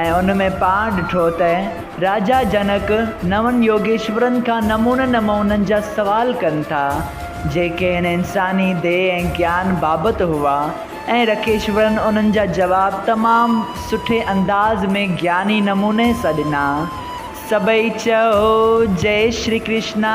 ۽ ان ۾ پاڻ ڏٺو ته راجا جنڪ نون يوگيشورن کان نمونن نمونن جا سوال ڪن ٿا، جيڪي هن انساني ديهه ۽ گيان بابت هئا ۽ رکيشورن انهن جا جواب تمام سٺي انداز ۾ گياني نموني سان ڏنا. سڀئي چئو، جئي شري ڪرشنا!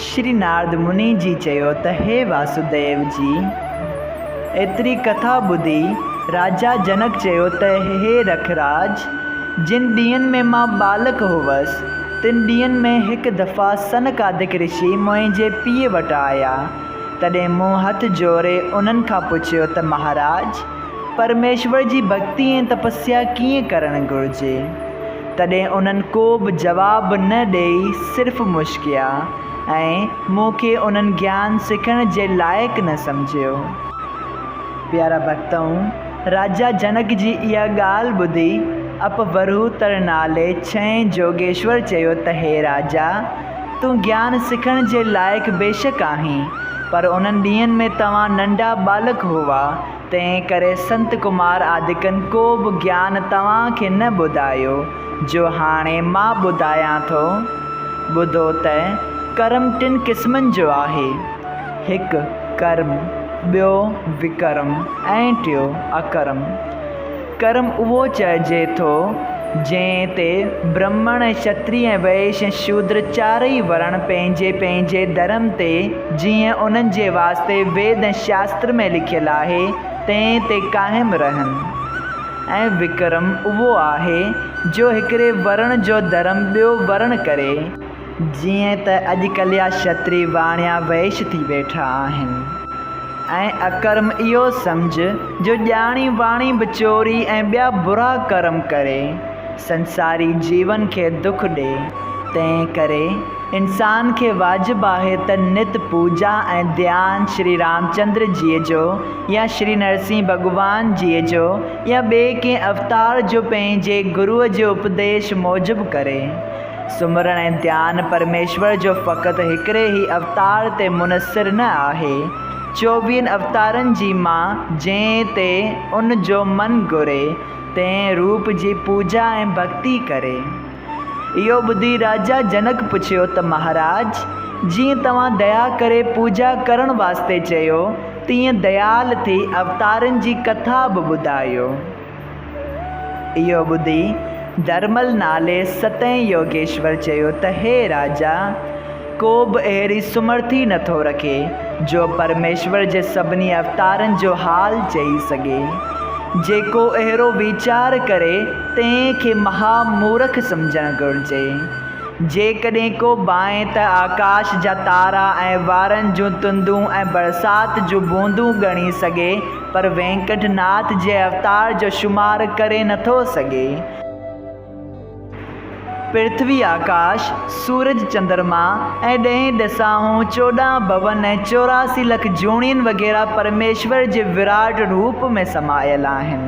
شري نارد مني جي چيو ته هي واسوديو جي! ايتري ڪٿا ٻڌي راجا جنڪ چيو ته هي رکراج! جن ڏينهن ۾ مان ٻالڪ هوس، تن ڏينهن ۾ هڪ دفعا سنڪادڪ رشي منهنجي پيء وٽ آيا، تڏهن مون هٿ جوڙي انهن کان پڇيو ته مهاراج! پرميشور جي ڀڳتي ۽ تپسيا ڪيئن ڪرڻ گهرجي؟ تڏهن انهن ڪو به جواب نه ڏيئي صرف مشڪيا ۽ مون کي انهن گيان سکڻ جي لائق نه سمجهيو. پيارا ڀڳتؤن! راجا جنڪ جي اها ڳالهه ٻڌي اپورهوتر نالي ڇهين جوڳيشور چيو ته هي راجا! تون گيان سکڻ جي لائق بيشڪ آهين، پر انهن ڏينهن ۾ توهان ننڍا ٻالڪ هئا، تنهن ڪري سنت ڪمار آدڪن ڪو به گيان توهان کي نه ٻڌايو، جو هاڻي مان ٻڌايان ٿو. ٻڌو ته ڪرم ٽن قسمن جو آهي، هڪ ڪرم، ٻيو وڪرم ۽ ٽيو اڪرم. ڪرم اهو چئجي ٿو، جنهن تي برهمڻ ۽ شتري ۽ وئيش ۽ شودر چارئي ورڻ پنهنجي پنهنجي ڌرم تي، جيئن انهن جي واسطي ويد ۽ شاستر ۾ لکيل آهي، تنهن تي قائم رهن. ۽ وڪرم اهو آهي، جو هڪڙي ورڻ جو ڌرم ٻيو ورڻ ڪري. جيئن ته اڄڪلهه جا شتري واڻيا وئش ٿي ويٺا آهن ۽ اڪرم اهو سمجهه جو ڄاڻي واڻي به چوري ۽ ٻيا برا ڪرم ڪري سنساري جيون کي دک ڏي تنهن ڪري انسان کي واجب آهي ته نت پوڄا ۽ ڌيان شري رامچندر جيء جو يا شري نرسين ڀڳوان جيء جو يا ٻئي ڪنهن اوتار جو پنهنجي گروء جي اپديش موجب ڪري سمرڻ ۽ ڌيان پرميشور جو فقط هڪڙي ئي اوتار تي منحصر نه آهي. چوويهن اوتارن جي مان جنهن تي ان جو من گهري، تنهن روپ جي پوڄا ۽ ڀڳتي ڪري. اهو ٻڌي راجا جنڪ پڇيو ته مهاراج! جيئن توهان ديا ڪري پوڄا ڪرڻ واسطي چيو، تيئن ديال ٿي اوتارن جي ڪٿا به ٻڌايو. اهو ٻڌي درمل نالي ستين يوگيشور چيو ته هي راجا! ڪو به اهڙي سمرٿي نه ٿو رکي جو پرميشور جي سڀني اوتارن جو حال چئي سگهي. جيڪو اهڙو ويچار ڪري تنهن کي مها مورک سمجهڻ گهرجي. جيڪڏهن ڪو ڀانئي ته آڪاش جا تارا ۽ وارن جون تندون ۽ برسات جون بوندون ڳڻي سگهي پر وينڪٽ ناٿ جي اوتار جو شمار ڪري نٿو سگهي. پرٿوي آڪاش، سورج چندرما ۽ ڏهين ڏساهون، چوڏهن ڀون ۽ چوراسي لک جوڻين وغيره پرميشور جي وراٽ روپ ۾ سمايل آهن.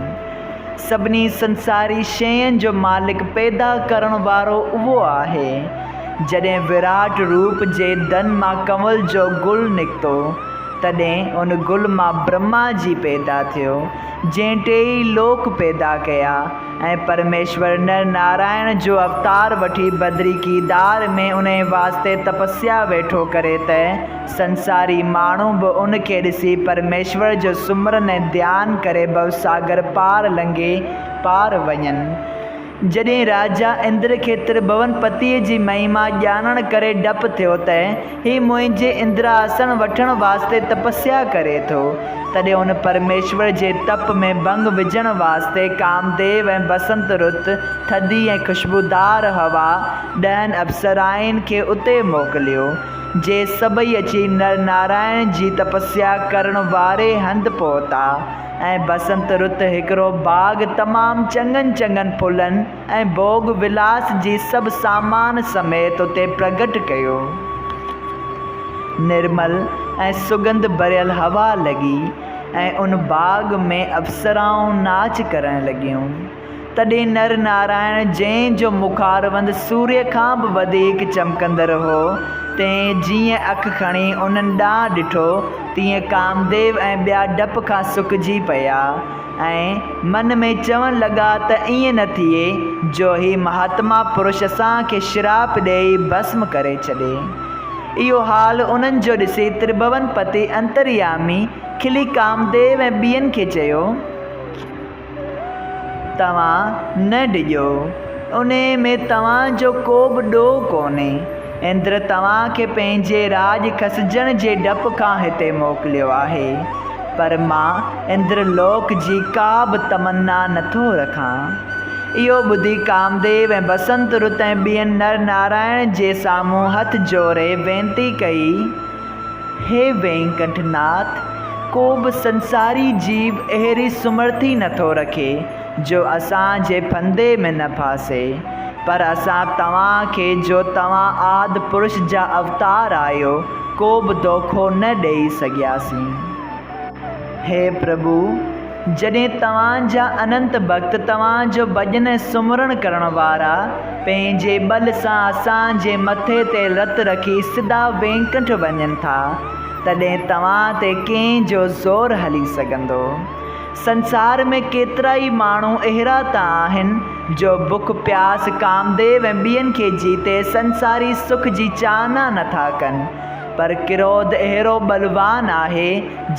سڀني سنساري شين جو مالڪ پيدا ڪرڻ وارو اهو آهي. جڏهن وراٽ روپ جي دن مان ڪنول جو گل نڪتو تڏهن ان گل مان برهما جي پيدا ٿيو، جنهن ٽيئي لوڪ پيدا ڪيا ۽ پرميشور نر نارائڻ جو اوتار وٺي بدري ڪيدار ۾ انهي واسطي تپسيا ويٺو ڪري ته سنساري ماڻهو به ان کي ڏسي پرميشور جو سمرن ۽ ڌيان ڪري ڀوساگر پار لنگهي پار وڃن. جڏهن راجا اندر کي ترڀون پتيء جي مهما ڄاڻڻ ڪري ڊپ ٿيو ته هي منهنجي اندراسڻ وٺڻ واسطي تپسيا ڪري ٿو، تڏهن هن پرميشور جي تپ ۾ ڀنگ وجهڻ واسطي ڪامديو ۽ بسنت رت، ٿڌي ۽ خوشبودار هوا، ڏهن اپسرائين کي اتي موڪليو، جي سڀئي اچي نر نارائڻ جي تپسيا ڪرڻ واري هنڌ پهتا. ۽ بسنت رت هڪڙو باغ تمام چڱن چڱن ڦلن ۽ ڀوڳ ولاس جي سڀ سامان سميت اتي پرگهٽ ڪيو. نرمل ۽ سڳنڌ ڀريل هوا لڳي ۽ ان باغ ۾ اپسرائون ناچ ڪرڻ لڳيون. تڏهن نر نارائڻ جنهن جو مخاربند سوريء کان به وڌيڪ چمڪندڙ هو، تنهن جيئن اک کڻي انهن ڏانهن ڏٺو، تيئن ڪامديو ۽ ٻيا ڊپ کان سڪجي پيا ۽ من ۾ چوڻ لڳا ته ائين نه ٿئي جو هي مهاتما پرش اسان کي شراپ ڏيئي ڀسم ڪري ڇڏي. اهو حال انهن جو ڏسي ترڀوون پتي انتريامي کلي ڪامديو ۽ ٻين کي چيو. توهان نه ڊڄو، انهيء ۾ توهان جو ڪو به ڏوهه ڪونهي. اندر توهان کي پنهنجي راڄ کسجڻ جي ڊپ کان هتي موڪليو آهي، پر مان اندر لوڪ جي ڪا به تمنا نه ٿو رکان. اهو ٻڌي ڪامديو ۽ بسنت رت ۽ ٻين نر نارائڻ جي سامهون هٿ جوڙي وينتي ڪئي. هي وينڪٽ ناٿ، ڪو به سنساري جيو اهڙي سمرٿي نٿو رکي، جو اسان جي ڦندي ۾ نه ڦاسي. پر اسان توهان کي جو توهان آد پرش جا اوتار آهيو، ڪو به دوکو نه ڏيئي سگهياسين. هي پرڀو! جڏهن توهان جا انت ڀڳت توهان جو ڀڄن ۽ سمرڻ ڪرڻ وارا پنهنجي ٻل سان اسان جي مٿي تي رت رکي سڌا وينڪنٺ وڃن ٿا، تڏهن توهان تي ڪنهن جو زور هلي سگهندو؟ سنسار ۾ ڪيترائي ماڻهو اهڙا ته آهن، جو بک پياس، ڪامديو ۽ ٻين کي جيتي سنساري سک جي چاهنا نٿا ڪن، پر ڪروڌ اهڙو ٻلوان آهي،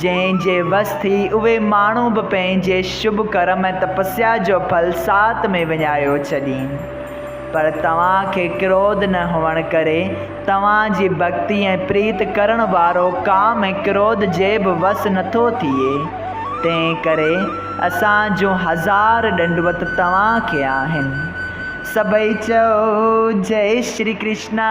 جنهن جي وس ٿي اهي ماڻهو به پنهنجي شڀ ڪرم ۽ تپسيا جو ڦل ساعت ۾ وڃايو ڇڏين. پر توهان کي ڪروڌ نه هئڻ ڪري، توهان جي ڀڳتي ۽ پريت ڪرڻ وارو ڪام ۽ ڪروڌ جي به وس نه ٿو ٿئي. تنهن ڪري اسان جون هزار ڏنڊوت توهان کي آهن. سڀئي چئو، جئي شري ڪرشنا.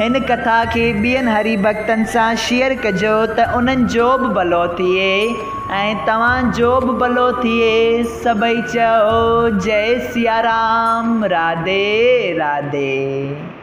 هن ڪٿا کي ٻين هري ڀڳتن سان شيئر ڪجو ته انهن جو به ڀلو ٿئي ۽ توهان جو به ڀلو ٿئي سڀئي چئو جئي سيارام راڌي راڌي.